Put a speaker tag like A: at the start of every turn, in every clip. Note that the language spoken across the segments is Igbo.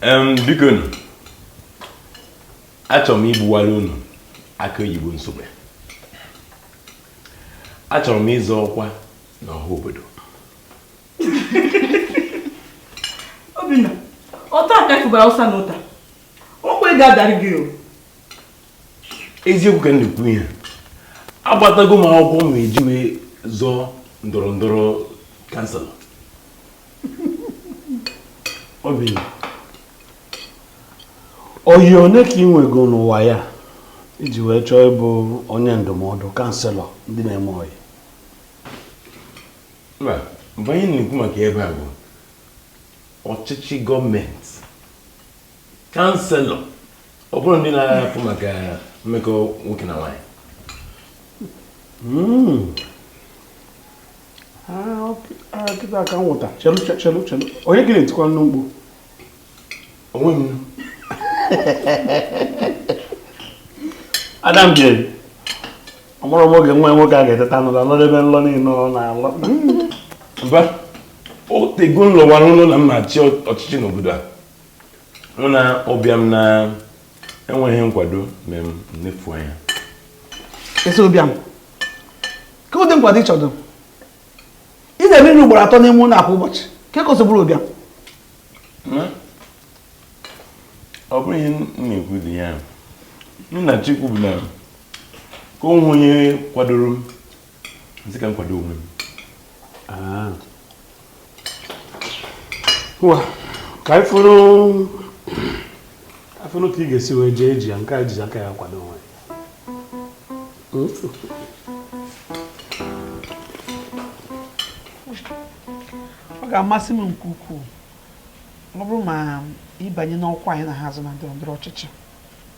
A: Em, biko nu achọrọ m igbuwara unu akị oyibo nsogbu achọrọ m ịzọ ọkwa n'ọha obodo Obinna, ọ taa ka ị fụbara Hausa na ụta. Okwe ga-adarị gị o. Eziokwu ka m na-ekwu ihe. Agbatago m akwụkwọ m eji wee zọọ ndọrọ ndọrọ kansụl. Obi ọyị one ka ị nwego n'ụwa ya iji wee chọọ ịbụ onye ndụmọdụ kanselọ ndị na-eme ọyị mba mgbe anyị na-ekwu maka ebe a bụ ọchịchị gọọmenti kanselọ ọ bụrọ ndị na-afụ maka mmekọ nwoke na nwaanyị hmm. ah, ah, kịta ka m wọta chelu chelu chelu onye ka ị na-etikwanụ mkpu onwe m adam jere amarọ m oge nwa ya nwoke a ga-eteta n'ụla lọdebe nlọ niile ọ na-alọ mba o tego m lọwara nlọ na m ma-achị ọchịchị n'obodo a ọ bụ na ụbịam na enweghị nkwado ma m na-efu anya ị sị ụbịam ke ụdị nkwado ị chọdụ ị na-eme nri ugboro atọ n'ime ụlọ kwa ụbọchị ka e kọsịbụrụ ụbịam ọ bụrọ ihe m na-ekwu dị ya ihe m na-achọ ikwu bụ na ka o nweghị onye kwadoro m m sị ka m kwado onwe m ah. ka anyị fụrụ afụnụ ka ị ga-esi wee jee eji ya nke a jizi aka ya kwado onwe ọ ga-amasị m nke ukwuu ọ bụrụ ma ị banye n'ọkwa anyị na ha azọ na ndọrọ ndọrọ ọchịchị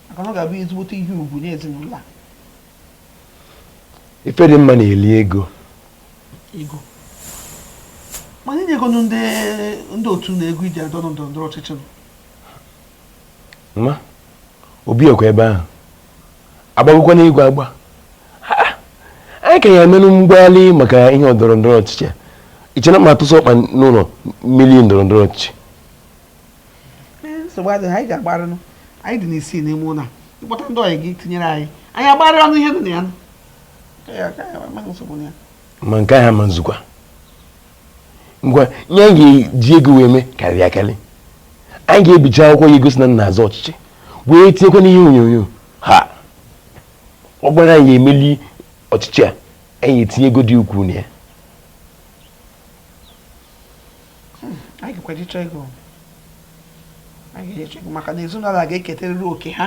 A: maka na ọ ga-abụ ezigbote ihe ugwu nye ezinụlọ a ife dị mma na-eli ego ego mana inye ego nụ ndị ndị otu na ego iji adọ na ndọrọ ndọrọ ọchịchị nọ. ma obi ọkwa ebe ahụ agbagokwa n'igwe agba anyị ka ya emenụ mgbalị maka ihe ndọrọ ndọrọ ọchịchị a i che na ma atụsị ọkpa n'ụlọ mmiri ndọrọ ndọrọ ọchịchị nsogbu adịghị anyị ga-agbarịnụ anyị dị n'isi n'ime ụlọ ị kpọta ndị ọyị gị tinyere anyị anyị agbarịa ọnụ ihe dị na ya ma nke ahụ ma nzukwa ngwa ihe anyị ga-eji ego wee mee karịrị akarị anyị ga-ebiji akwụkwọ ga-egosi na m na-azọ ọchịchị wee tinyekwa n'ihe onyonyo ha ọ gbara anyị emeli ọchịchị a anyị etinye ego dị ukwuu na ya anyị ga-ekweje chọọ ego anyị ga-eje chọọ ego maka na ezinụlọ a ga-eketerịrị oke ha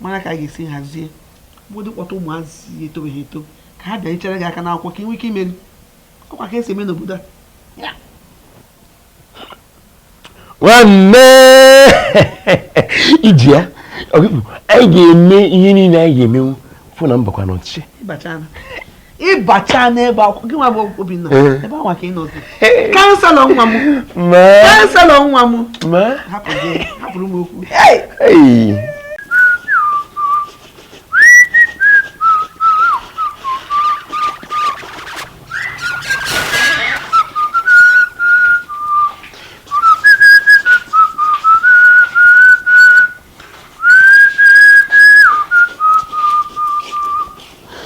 A: mara ka a ga-esi hazie ọbụdị kpọta ụmụazị etobeghị eto ka ha bịanyechara gị aka n'akwụkwọ ka ị nwee ike imeri ọ kwa ka e si eme n'obodo a nwanne i ji ya anyị ga-eme ihe niile anyị ga-emenwu fụ na m bakwa n'ọchịchị ị bacha n'ebe akwụkwọ gị nwa bụ Obinna eh. ebe anwa ka ị nọzi kanselọ nwa m kanselọ nwa m hapụrụ m okwu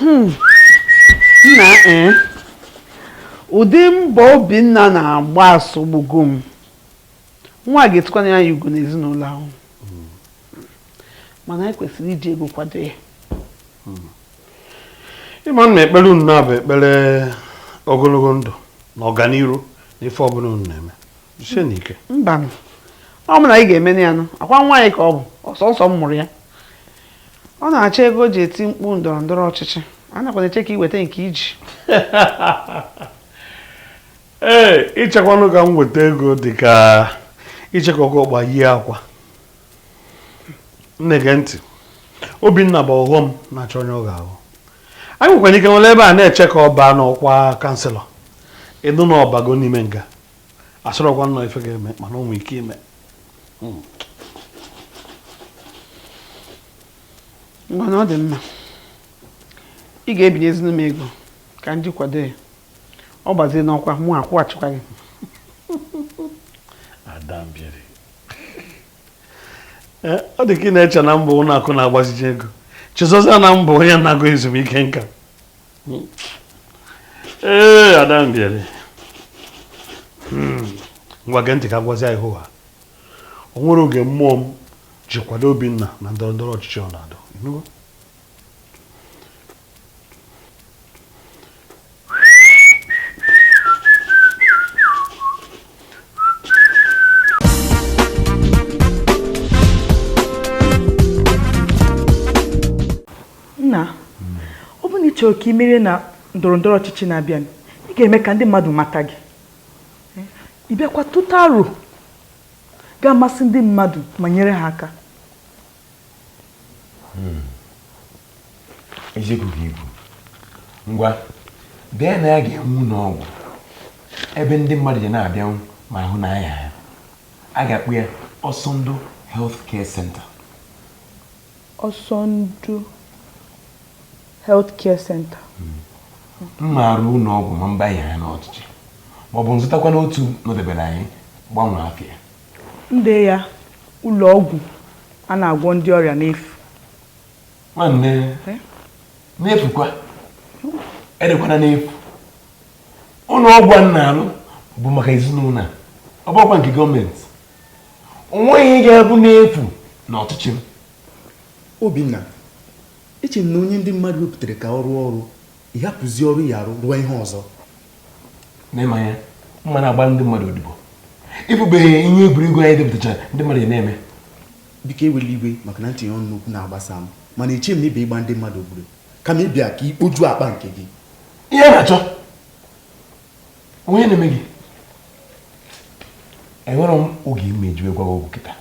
A: Hmm. nna ee eh? ụdị mbọ obinna na-agba asọgbugo m nwa ga-etukwanụ ya ugo n'ezinụlọ ahụ mana anyị kwesịrị iji ego kwado ya hmm. ị ma na ekpere unu na-abụ ekpere ogonogo ndụ na ọganiru n'ife ọbụna unu na-eme mbanụ o mana anyị ga-eme ya nụ ọ kwa nwa anyị ka ọ bụ sọọsọ m mụrụ ya ọ na-achọ ego o ji eti mkpu ndọrọ ndọrọ ọchịchị anakwa m eche ka i weta nke i ji ee ichekwanụ ka m weta ego dị ka iche ka oke ọkpa yie akwa nne gee ntị obinna bụ ọghọm na-achọ onye ọ ga-aghọ anyị nwekwara ike nọrọ ebe a na-eche ka ọ baa n'ọkwa kanselọ ị nụ na ọ bago n'ime nga asịrọkwa m na ọ ife ga-eme mana o nwee ike ime hmm. ngwanụ ọ dị mma ị ga-ebinyezinụ m ego ka m ji kwado ya ọ bazie n'ọkwa mụ akwụghachikwa gị eh, ada Mbieri ọ dị ka ị na-eche na m bụ ụlọ akụ na-agbaziji ego chezọzia na m bụ onye naago ezumike nka ee eh, ada Mbieri hmm. ngwa gee ntị ka m gwazie gị hoo haa o nwerọ oge mmụọ m ji kwado Obinna na ndọrọ ndọrọ ọchịchị ọ na-adọ nna ọ bụrụ na ị chọrọ ka ị merie na ndọrọ ndọrọ ọchịchị na-abịa ị ga-eme ka ndị mmadụ mata gị ị bịakwa tụta aro ga-amasị ndị mmadụ ma nyere ha aka hmm. eziokwu ka i kwuru ngwa denye na ya ga-ewu ụlọ ọgwụ ebe ndị mmadụ ga na-abịanwu ma ahụ na anya ha a ga-akpọ ya ọsọndụ health care center Ọsọndụ Health Care Center. M ma-arụ ụlọ ọgwụ ma m banye n'ọchịchị ma ọ bụ m zụtakwanụ otu nọdebere anyị gbanwee afa ya. M dee ya ụlọ ọgwụ a na-agwọ ndị ọrịa n'efu. Nwanne eh? n'efukwa edekwana n'efu. Ụlọ ọgwụ a na-alụ bụ maka ezinụlọ a ọ bụkwa nke gọọmenti. onweghị ihe ga-abụ n'efu na ọchịchị m obinna eche m na onye ndị mmadụ wepụtara ka ọ rụọ ọrụ ịhapụzi ọrụ ya arụ rụọ ihe ọzọ n'ịmanya mma na-agba ndị mmadụ odibo ịbụbeghị ihe egwuregwu anyị depụtachara ndị mmadụ na-eme biko ewele iwe maka na m tinye ọnụ n'okwu na-agbasa m mana eche m na ị bịa ịgba ndị mmadụ odibo kama ị bịa ka ikpoju akpa nke gị ihe na-achọ onye na-eme gị enwerọ m oge m eji wee gwa gị okwu kịta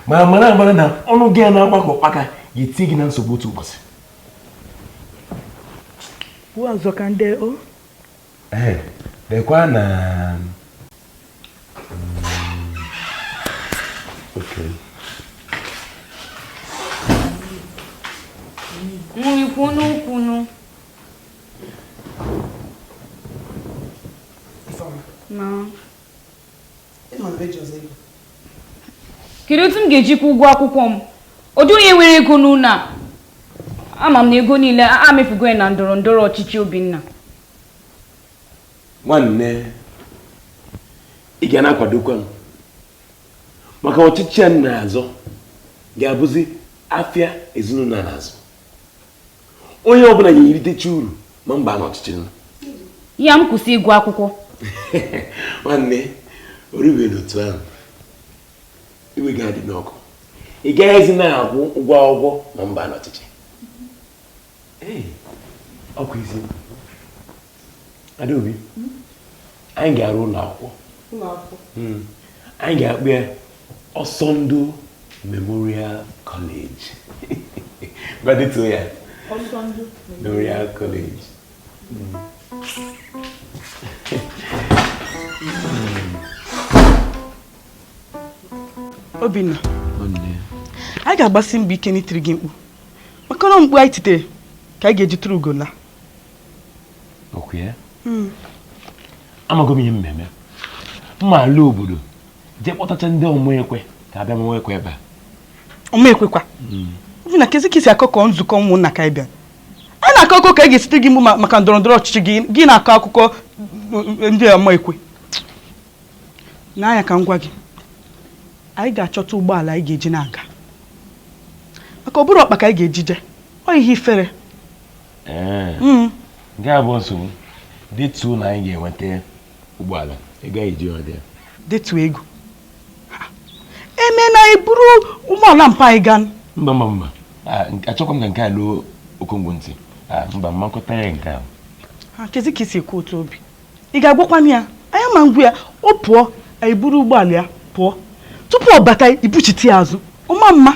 A: ma mara amara na ọnụ gị a na-agba ka ụkpaka ga-eti gị na nsogbu otu ụbọchị ọzọ ka ndị o ee dekwa na nri kwunu kwunu kedu otu m ga-eji kwụọ ụgwọ akwụkwọ m ọ dị onye nwere ego n'ụlọ a ama m na ego niile amefugo ya na ndọrọ ndọrọ ọchịchị Obinna nwanne ị ga na-akwadokwa m maka ọchịchị a na-azọ ga-abụzi afịa ezinụlọ na-azụ onye ọbụla ya eritecha uru ma m baa na ọchịchị nya m kwụsị ịgụ akwụkwọ nwanne o rubenụ otu ahụ iwe gị adịna ọkụ ị gaghịzi na-akwụ ụgwọ akwụkwọ ma m baa na ọchịchị ọkwa ezi Adaobi anyị ga-arụ ụlọ akwụkwọ hmm. anyị ga-akpọ ya Ọsọndụ Memorial College ngwa detuo ya Ọsọndụ Memorial College hmm. Obinna anyị ga-agbasi mbọ ike n'itiri gị mkpu maka na mkpu anyị titere ka anyị ga-eji turu ugo laa hmm. amago m ihe m ma-eme m ma-ala obodo jee kpọtacha ndị ọmaekwe ka a bịa mawa ekwe ebe a ọmaekwekwa Obinna kezi ka i si akụkọ nzukọ ụmụnna ka ị bịa a na-akọ akụkọ ka anyị ga-esi tie gị mkpu maka ndọrọ ndọrọ ọchịchị gị gị na-akọ akụkọ eh, ndị ọmaekwe n'anya ka m gwa gị anyị ga-achọta ụgbọala anyị ga-eji na-aga maka ọ bụrụ ọkpa ka anyị ga-eji je ọ ihe ifere nke a bụ nsogbu detuo na anyị ga-enweta ụgbọala ego anyị ji nweta ya detuo ego e mee na anyị buru ụgbọala mpa anyị gaa mba mba mba achọkwa m ka nke a luo okongwu ntị mba mmakọta ya nke ahụ kezi ka i si ekwu otu Obi ị ga-agwakwanụ ya anyị ama agwa ya ọ pụọ anyị buru ụgbọala ya pụọ tupu ọ bata anyị ebuchite ya azụ ọ ma ama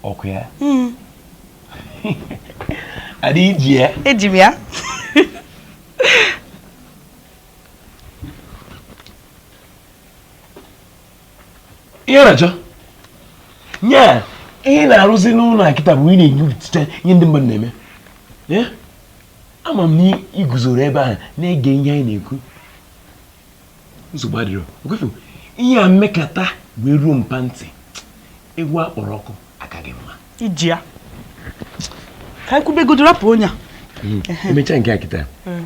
A: ọ kwa ya hmm. Ada i ji ya eji m ya ihe na-achọ nye ihe ị na-arụzi n'ụlọ a kịta bụ ị na-enyopụta ihe ndị mmadụ na-eme ama m na i guzoro ebe ahụ na-ege ihe anyị na-ekwu nsogbu adịrọ okwefu ihe a mekata wee ruo mpa ntị ewu a kpọrọ ọkụ aka gị mma i ji ya ka anyị kwubegodo rapụ onye a hmm. emechaa nke a kịta hmm.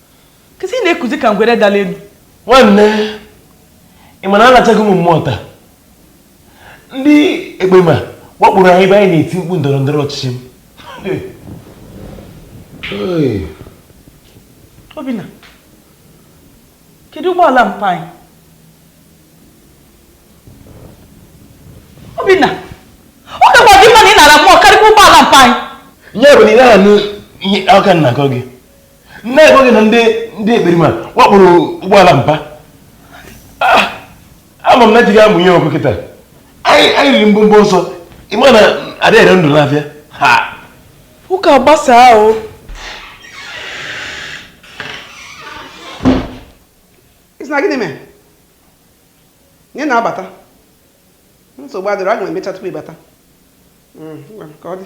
A: kezi ị na-ekuzi ka ngwere dala elu nwanne ị ma na alachago mụ mmụọ taa ndị ekperima wakporo anyị ebe anyị na-eti mkpu ndọrọ ndọrọ ọchịchị m Obinna kedu ụgbọala mpa anyị Obinna ọ kakwa gị mma na ị nara mmụọ karịkwa ụgbọala mpa anyị eh ọ bụ na ị na-anụ ihe a ka m na-akọ gị nne ekweghị na ndị ndị ekperima wakporo ụgbọala mba ah, ama m na jighị amụ ihe ọkụ kịta anyị riri mbọmbọ ọsọ ị ma na a dịghị ere ndụ n'afịa ụka gbasaa ahụ ị sị na gịnị mere nne na-abata nsogbu adịghị aga m emecha tupu ị bata hmm, ka ọ dị